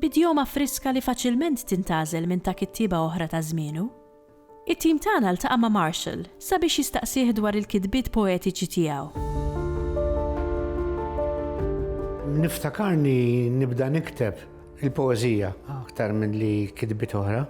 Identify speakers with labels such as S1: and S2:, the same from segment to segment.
S1: b'idjoma friska li faċilment tintgħażel minn ta' kittieba oħra ta' żmienu. It-tim tagħna ltaqa' ma' Marshall sabiex jistaqsih dwar il-kitbiet poetiċi tiegħu.
S2: Niftakarni nibda nikteb il-poeżija aktar milli kitbiet oħra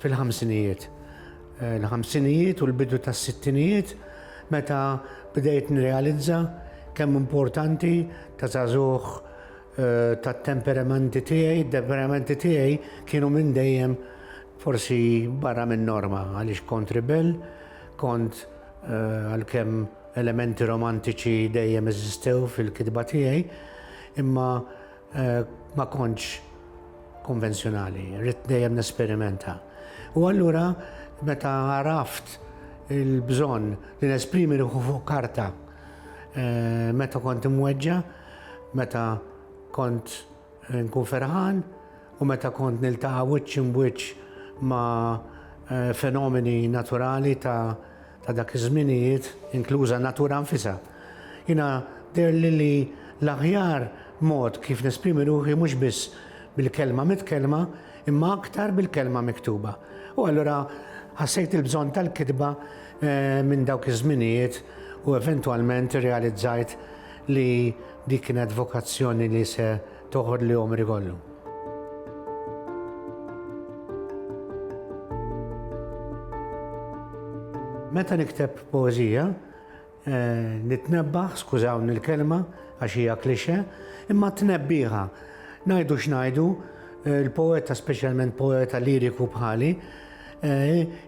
S2: fil-ħamsinijiet. Il-ħamsinijiet u l-bidu tas-sittinijiet meta bdejt nirrealizza kemm importanti ta' żagħżugħ tat-temperamenti tiegħi, it-temperamenti tiegħi kienu minn dejjem forsi barra minn norma għaliex kont ribell, kont għalkemm elementi romantiċi dejjem eżistew fil-kitba tiegħi, imma ma kontx konvenzjonali, ridt dejjem nesperimenta. U allura meta għaraft il-bżonn li nesprimi ruħi fuq karta, Eh, meta kont imweġġa, meta kont eh, nkun ferħan u meta kont niltaqa' wiċċ imwiċċ ma' eh, fenomeni naturali ta' ta' dak iż-żminijiet, inkluża natura nfisa. Jina der li li l-aħjar mod kif nesprimi ruħi mhux biss bil-kelma mit-kelma, imma aktar bil-kelma miktuba. U allura ħassejt il-bżonn tal-kitba minn dawk iż-żminijiet u eventwalment irrealizzajt li dik kienet vokazzjoni li se toħodli għomri kollu. Meta nikteb poeżija, Nitnebbaħ, skużawni l-kelma għax hija klixe, imma tnebbiħa. Ngħidu x'ngħidu, il-poeta speċjalment poeta liriku bħali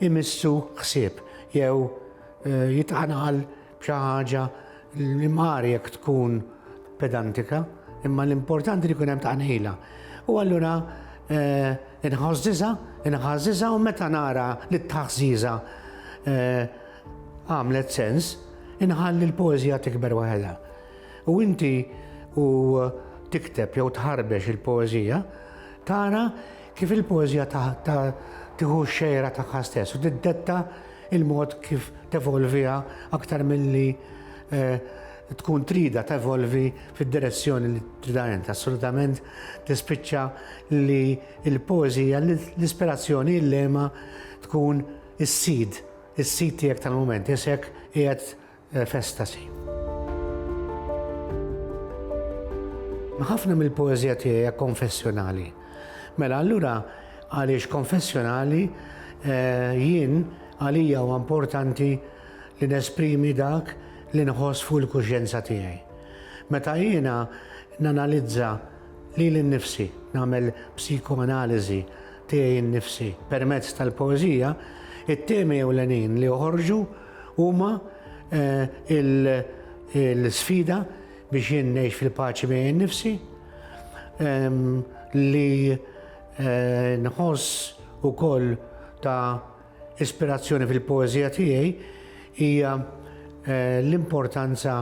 S2: imissu ħsieb jew jitqanqal b'xi ħaġa li mqar jekk tkun pedantika, imma l-importanti li jkun hemm tqanqila. U allura inħoss diża', inħass diża' u meta nara lit-taħżiża Għamlet sens, inħalli l-poeżija tikber waħedha. U inti u tikteb jew tħarbex il-poeżija, tara kif il-poeżija tieħu xejra tagħha stess u tiddetta il-mod kif tevolviha aktar milli eh, tkun trida tevolvi fid-direzzjoni li trida int. Assolutament tispiċċa li l-poeżija, l-ispirazzjoni, l-lema tkun is-sid Is-sit tiegħek tal-mument isek qiegħed f'estasi. Ħafna mill-poeżija tiegħi hija konfessjonali. Mela allura għaliex konfessjonali jien għalija huwa importanti li nesprimi dak li nħoss fuq il-kuxjenza tiegħi. Meta jiena nanalizza lili nnifsi, nagħmel psikoanaliżi tiegħi nnifsi. Permezz tal-poeżija, it-temi ewlenin li joħorġu huma l-sfida biex jien ngħix fil-paċi miegħi nnifsi, li nħoss ukoll ta' ispirazzjoni fil-poeżija tiegħi hija l-importanza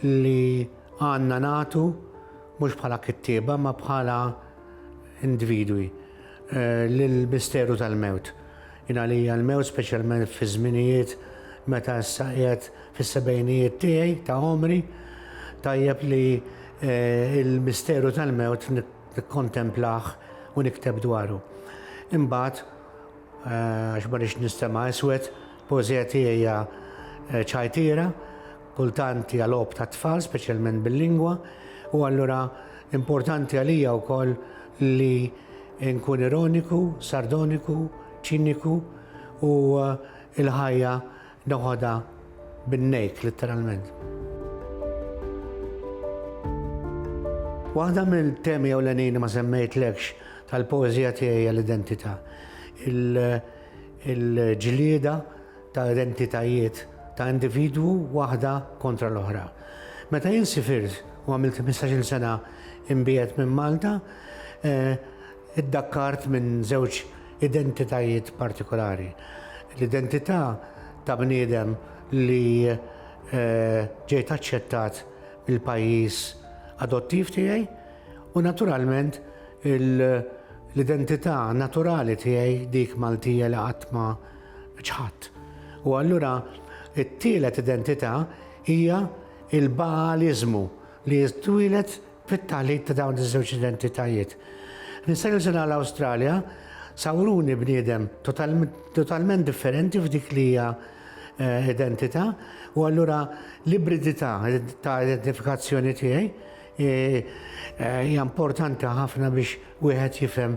S2: li għandna nagħtu mhux bħala kittieba imma bħala individwi lill-misteru tal-mewt. Jien għalija l-mewt speċjalment fi żminijiet meta issa qiegħed fis-sebgħinijiet tiegħi ta' għomri, tajjeb li l-misteru tal-mewt nikkontemplah u nikteb dwaru. Imbagħad, għax ma rridx nistema' iswed, il-poeżija tiegħi hija ċajtiera, Kultant hija logħob tat-tfal, speċjalment bil-lingwa, u allura importanti għalija wkoll li nkun ironiku, sardoniku, ċiniku u l-ħajja noħodha bin-nejk litteralment. Waħda mill-temi ewlenin li ma semmejtlekx tal-poeżija tiegħi hija l-identità, il-ġlieda, ta' identitajiet ta' individwu waħda kontra l-oħra. Meta jien sifirt u għamilt ħmistax-il sena imbiegħed minn Malta, iddakkart minn żewġ identitajiet partikolari. L-identità ta' bniedem li ġejt aċċettat mill-pajjiż adottiv tiegħi u naturalment l-identità naturali tiegħi, dik Maltija li qatt ma ċħadd. U allura t-tielet identità hija l-Baaliżmu li twieled fit-taħlit ta' dawn iż-żewġ identitajiet. Nista' nuża l-Awstralja sawruni bniedem totalment differenti f'dik li hija eh, identità u allura l-ibridità ta' identifikazzjoni tiegħi eh, eh, hija importanti ħafna biex wieħed jifhem